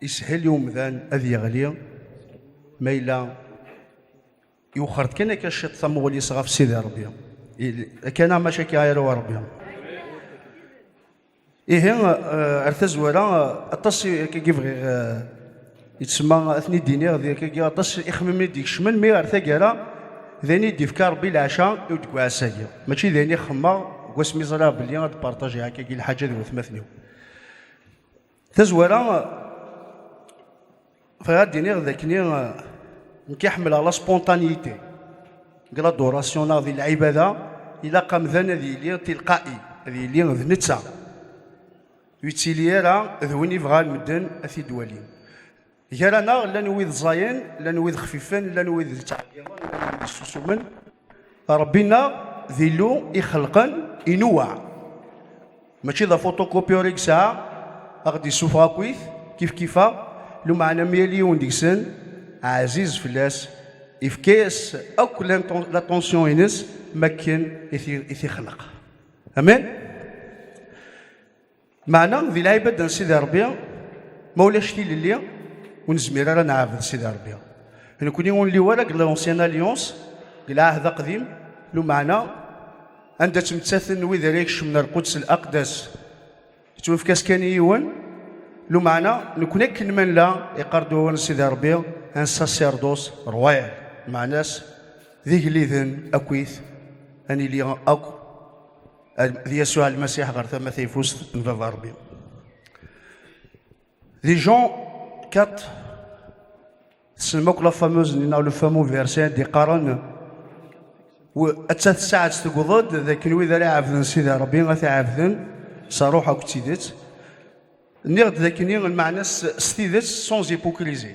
Ishel i umdan ad yeɣli ma yella yuxer-d kan akka ciṭ tamuɣli-s ɣef Sidi Rebbi. Akkana maca akka ara wa Rebbi. Ihi eh, ar tazwara aṭas akkagi bɣiɣ eh, yettsemma ad ten-id-iniɣ di akkagi aṭas ixemmimen i d-ikecmen mi ar taggara d ayen i d-ifka Rebbi leɛca i deg uɛassa-agi. Mačči d ayen i xemmeɣ deg wasmi ẓriɣ belli ad d-partajiɣ akkagi lḥaǧa d watmaten-iw. tazwara bɣiɣ ad d-iniɣ d akni nekk i ḥemmleɣ la spontanéité deg l'adoration neɣ di lɛibada ilaq amdan ad yili tilqa'i ad yili d netta ur yettili ara d win ibɣan medden ad t-id-walin Gar-aneɣ llan wid ẓẓayen, llan wid xfifen, llan wid yettɛeggiḍen, llan wid yessusumen. Ṛebbi-nneɣ d Illu ixelqen, inuweɛ. Mačči d afuṭukupyur i yesɛa, a ɣ-d-yessufeɣ akkit, kifkif-a, lumeɛna mi yal yiwen deg-sen ɛziz fell-as, ifka-yas akk laṭunsyu-ines mi akken i t-ixleq. Amen? Meɛna di lɛibad n Sidi Ṛebbi, ma ulac tilelli, ur nezmir ara ad nɛabed Sidi Ṛebbi. Nekkni ur nli wara deg l'Ancien Alliance, deg Lɛahd Aqdim, lumeɛna anda ttmettaten wid ara ikecmen ar Quds l'Aqdas yettwefka-s kan i yiwen, lumeɛna nekkni akken ma nella, yeqqar-d wawal n Sidi Ṛebbi, un sacerdoce royal, meɛna-s d igelliden akkit, ad nili akk. d Yasuɛ Lmasiḥ ɣer tama tayeffust n Baba Rebbi. Di Jean 4, tessnem akk la fameuse n neɣ le fameux verset d-iqqaren atta tessaɛet tewweḍ-d d akken wid ara iɛabden Sidi Rebbi ad t-iɛabden s ṛṛuḥ akked tidet. Nniɣ-d d akken lmeɛna s tidet sans hypocrisie.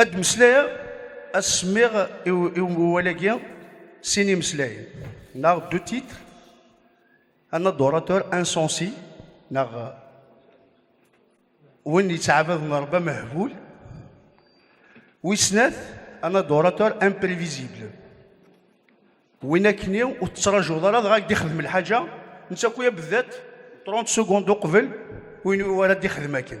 ad d-meslayeɣ ad semmiɣ i umwal-agi sin imeslayen neɣ du titre un adorateur insensé neɣ win yettɛabaden Rebbi amehbul wis snat un adorateur imprévisible win akkenni ur tettrajuḍ ara dɣa ak d-ixdem lḥaǧa netta akk-i abeddat 30 secondes uqbel win ur ara d-ixdem akken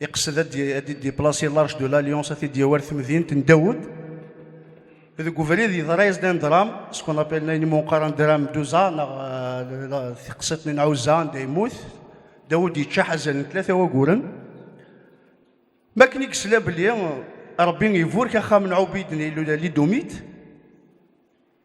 Iqsed ad d-idiplasi large de l'Alliance ad t-id-yawi ar temdint n Dawed. Deg ubrid yeḍra-yas-d un dram, ce qu'on appelle ayen iwumi qqaren dram d'Uza neɣ tiqsiḍt n Ɛuzza anda yemmut. Dawed yeččaḥ azal n tlata waguren. Mi akken i yesla belli Rebbi iburek axxam n Ɛubid n Illu Lidumit,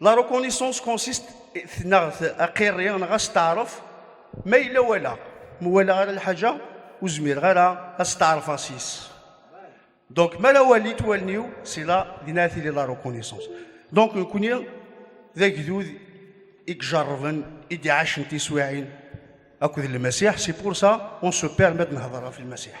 La reconnaissance consiste tenaɣet aqirri neɣ asteɛref ma yella wala ma wala ara lḥaǧa ur zmireɣ ara asteɛref-a s-is donc ma la walit wallen-iw si la din ara tili la reconnaissance donc nekuni d agdud i ijerrben i d-iɛacen tiswiɛin akked lmasiḥ si pour ça on se permet ad nehder ɣef lmasiḥ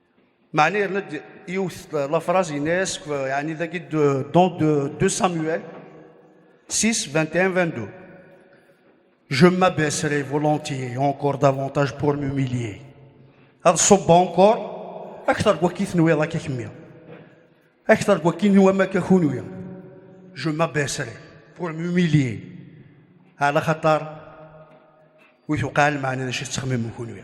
Mani yerna-d yiwet lafraz ines yani dagi don de, de Samuel 6, 21, 22. Je m'abaisserai volontiers encore davantage pour m'humilier. Ad ṣubbeɣ encore aktar n wakki tenwiḍ akka kemmi. Aktar n wakki nwam akka kunwi. Je m'abaisserai pour m'humilier. Ala xatar wi tuqal maɛna d acu tettxemmim kunwi.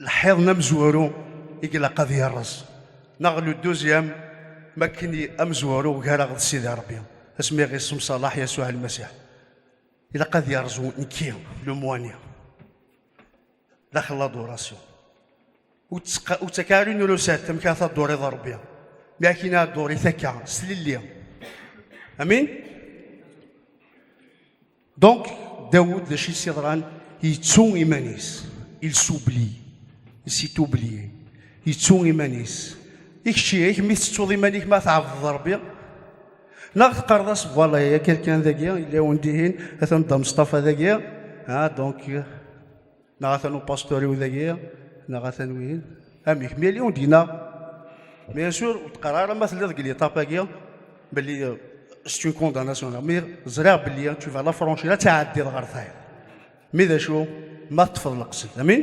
lḥiḍ n amezwaru i ilaq ad yerreẓ neɣ le deuxième ma akken amezwaru gar-aɣ d Sidi Rebbi asmi i ɣ-issemṣalaḥ Yasuɛ Lmasiḥ ilaq ad yerẓu nekki le moigné daxel l'adoration ur ttak ara une recette amek ara tadduriḍ Rebbi mi akken ad dduri takka s tlelli amin Donc, Daoud, d acu yeḍran, yettu iman-is, il s'oublie, il s'est oublié, yettu iman-is. I kečč, i kemm i tettuḍ iman-ik ma tɛebdeḍ Rebbi, neɣ teqqareḍ-as, voilà, ya quelqu'un dagi, yella undihin, atan Dda Mustafa dagi, ah, donc, Neɣ atan upastur-iw dagi, neɣ atan wihin. Amek, mi yali ur d-yenna. Bien sûr, ur d-qqar ara ma telliḍ deg l'étape-agi, belli euh, c'est une condamnation. Mi ẓriɣ belli tu vas la franchir, ad tɛeddiḍ ɣer tayeḍ. Mi d acu, ma teṭṭfeḍ leqsed. Amin?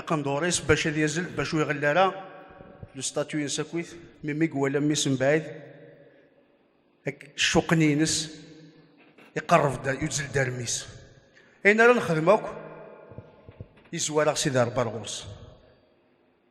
aqendur-is bac ad yazzel bac ur iɣelli ara le statut insakit mi mi iwala mmi-s mebɛid ccuqen-ines iqerreb-d yuzzel-d armi-s ayen ara nexdem akk izwar-aɣ Sidi Rebbi ar ɣur-s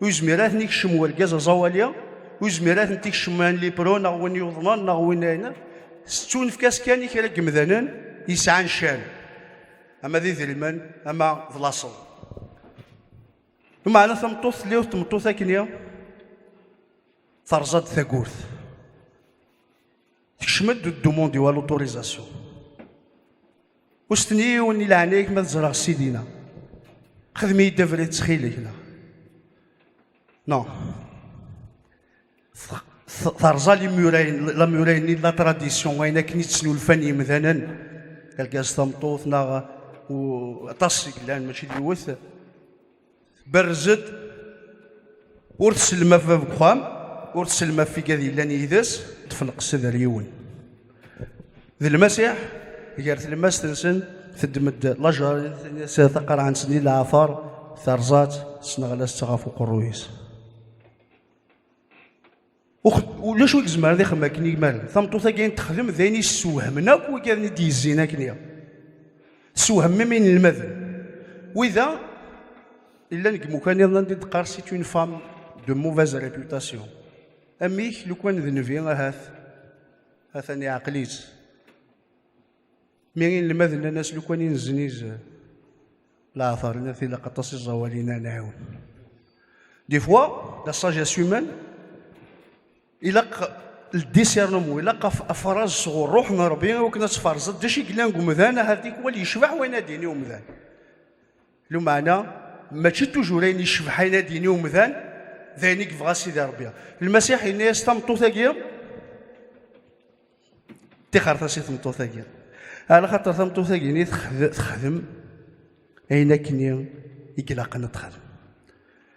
Ur yezmir ad ten-ikcem urgaz aẓawali, ur yezmir ad ten-ikcem an lipro neɣ win yuḍnen neɣ win ayen. Tettunefk-as kan i kra n yemdanen yesɛan ccan, ama d idrimen, ama d laṣel. Meɛna tameṭṭut telli ur tmeṭṭut akken terẓa-d tagurt. Tekcem-d ddumundi wa l'autorisation. Ur s-ten-yiwen i leɛnaya-k ma teẓreɣ sidina. Xedem-iyi-d abrid ttxil-k neɣ. Non. Terẓa limurayen, lamurayen-nni de la tradition, ayen akken i ttnulfan yimdanen, argaz tameṭṭut neɣ aṭas i yellan mačči d yiwet. Berrez-d, ur tsellem ɣef bab n uxxam, ur tsellem ɣef igad yellan yid-s, tefneqsed ar yiwen. D Lmasiḥ, gar tlemmast-nsen, teddem-d lajarit taqerɛant n leɛfar, terẓa-tt, tesneɣla-tt ɣef uqerruy-is. ulac ur yezmer ad ixem akken iman tameṭṭut agi n texdem d ayen yessewhamen akk wigaden i d-yezzin akken iɣ tessewhem imi inelmaden wida illan deg imukan iḍen andi d-qqar si une femme de mauvaise réputation amek lukan d nebi ahat atan iɛqel-itt mi inelmaden nnan-as lukan i nezniz leɛtar naf ilaq aṭas iẓawalin-a nɛiwen des fois la sagesse humaine ilaq le discernement ilaq afraz sɣur ruḥ n Rebbi akken ad tfarzeḍ d acu i yellan deg umdan ahat tikwal yecbeḥ wayen ad d-yini umdan lumeɛna mačči tujur ayen yecbeḥ ayen ad d-yini umdan d ayen i yebɣa Sidi Rebbi Lmasiḥ yenna-yas tameṭṭut-agi Tixret-as i tmeṭṭut-agi. Ala xaṭer tameṭṭut-agi ni texdem ayen akken i ilaqen ad texdem.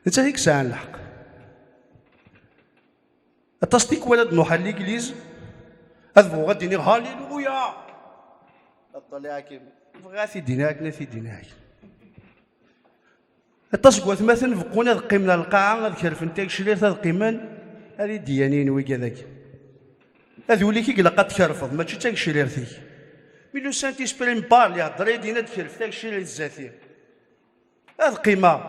Nettat i yesɛan lḥeqq. Aṭas tikwal ad nuḥal ligliz ad bɣuɣ ad d-iniɣ haliluya. Aṭṭal iɛakim. Bɣiɣ ad t-id-iniɣ akken ad t-id-iniɣ akken. Aṭas n watmaten beqqun ad qqimen ar lqaɛa, ad kerfen tageclirt, ad qqimen ar idyanin wiga dagi. Ad uli ki glaq ad tkerfeḍ, mačči d tageclirt-ik. Mi lusan tisprim bar, li hder idin ad kerf tageclirt zati. Ad qqimeɣ.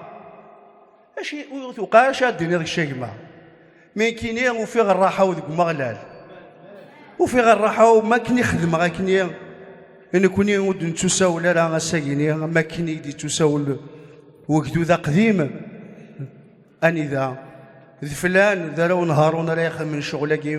Aci, ur tuqaɛac ad diniḍ kečč a gma. Nekini ufiɣ rraḥa-w deg Umeɣlal. Ufiɣ rraḥa-w mi akken i xedmeɣ akkenni nekni ur d-nettusawel ara ass-agi-nni am akken i d-yettusawel wegdud aqdim anida d flan d arraw n Haṛun ara ixedmen ccɣel-agi.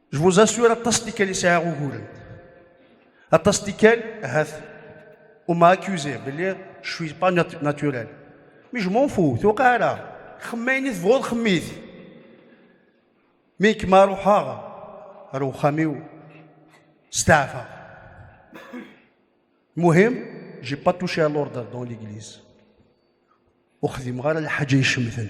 Je vous assure, aṭas tikkal i sɛiɣ uguren. Aṭas tikkal, ahat, on m'a accusé, belli, je suis pas naturel. Mais je m'en fous, tuqa ara. Xemmem ayen i tebɣuḍ, xemmit. Mi kem-a ruḥeɣ, ar uxxam-iw, steɛfaɣ. Muhim, j'ai pas touché à l'ordre dans l'église. Ur xdimeɣ ara lḥaǧa icemten.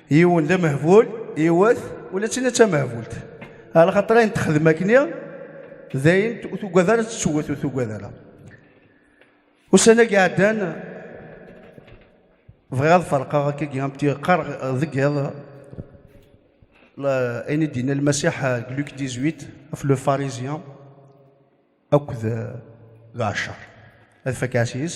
yiwen d amehbul yiwet ula d tina d tamehbult ala xaṭer ayen texdem akkenni d ayen ur tugad ara tettewwet ur tugad ara ussan-agi ɛeddan bɣiɣ ad ferqeɣ akkagi am qqareɣ deg iḍ ayen i d-yenna lmasiḥ deg luk 18 af le pharisien akked d ɛeccer ad fakk ɛas yes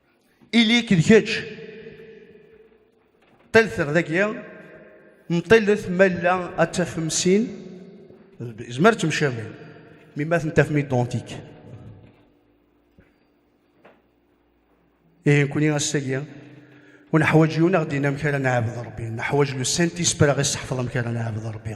Ili-k d kečč. Ṭṭilet dagi, mṭilet ma yella ad tafem sin, izmer temcabin, mi ma ten-tafem identik. Ihi nekkni ass-agi ur neḥwaǧ yiwen ad ɣ-d-yini amek ara nɛabed Ṛebbi, neḥwaǧ le Saint-Esprit ara ɣ-iseḥfeḍ amek ara nɛabed Ṛebbi.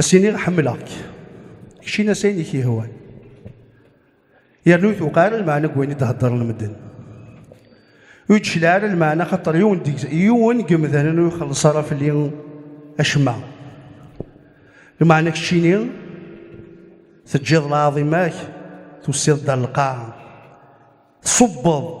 As-iniɣ ḥemmleɣ-k. Keččin-as ayen i k-yehwan. Yernu i tuqal lmeɛna n wayen i d-heddren medden. Ur d-tecliɛ ara lmeɛna xaṭer yiwen deg- yiwen deg yemdanen ur ixelleṣ ara fell-i acemma. Lmeɛna keččini teǧǧiḍ lɛaḍima-k, tusiḍ-d ar lqaɛa, tṣubbeḍ-d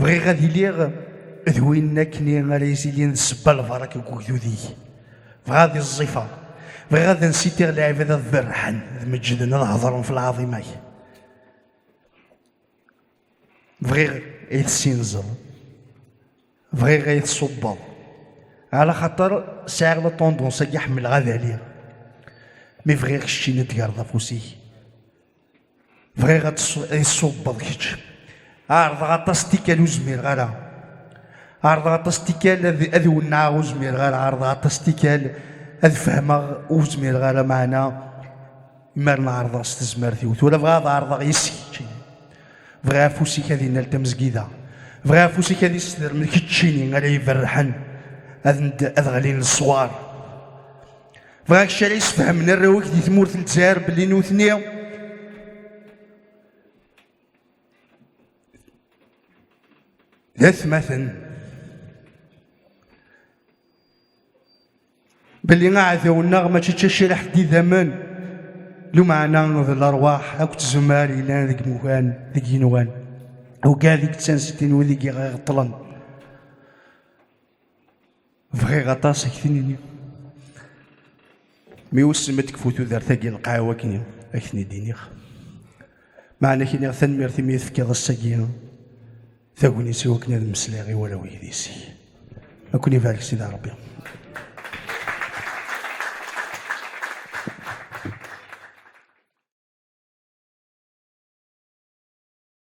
Bɣiɣ ad iliɣ d win akni ara izilin d sebba lbarak deg ugdud-ik. Bɣiɣ ad iẓẓifeɣ. Bɣiɣ ad nsitiɣ lɛibad ad berrḥen, ad meǧǧden, ad heḍren f lɛaḍima-k. Bɣiɣ ay tessinzeḍ. Bɣiɣ ay tṣubbeḍ. Ala xaṭer sɛiɣ la tondons-agi ḥemmleɣ ad aliɣ. Mi bɣiɣ keččini ad d-tgerreḍ afus-ik. bɣiɣ ad iṣubbeḍ kečč ɛerḍeɣ aṭas tikkal ur zmireɣ ara ɛerḍeɣ aṭas tikkal ad wennaɣ ur zmireɣ ara ɛerḍeɣ aṭas tikkal ad fehmeɣ ur zmireɣ ara maɛna imar nɛerḍeɣ s tezmert-iw tura bɣiɣ ad ɛerḍeɣ yes-k kečči bɣiɣ afus-ik ad inal tamezgida bɣiɣ afus-ik ad isdermen keččini ara iberrḥen ad ɣlin leṣwar Bɣiɣ kra yesfehmen arraw-ik di tmurt n Lezzayer belli nutni d atmaten belli aɛdaw-nneɣ mačči d taciriḥt d idammen lumeɛna d lerwaḥ akked tzemmar yellan deg imukan deg yinuɣan ugad i yettanstin wid i iɣeṭṭlen Bɣiɣ aṭas ad ak-ten-iniɣ. Mi wissen ma tekfu tudert-agi lqaɛa wakken ad ak-ten-id-iniɣ. Meɛna ak-iniɣ tanemmirt imi i tefkiḍ ass-agi tagnit i wakken ad mmeslayeɣ i warraw yedis-ik. Ad ken-ibarek Sidi Ṛebbi.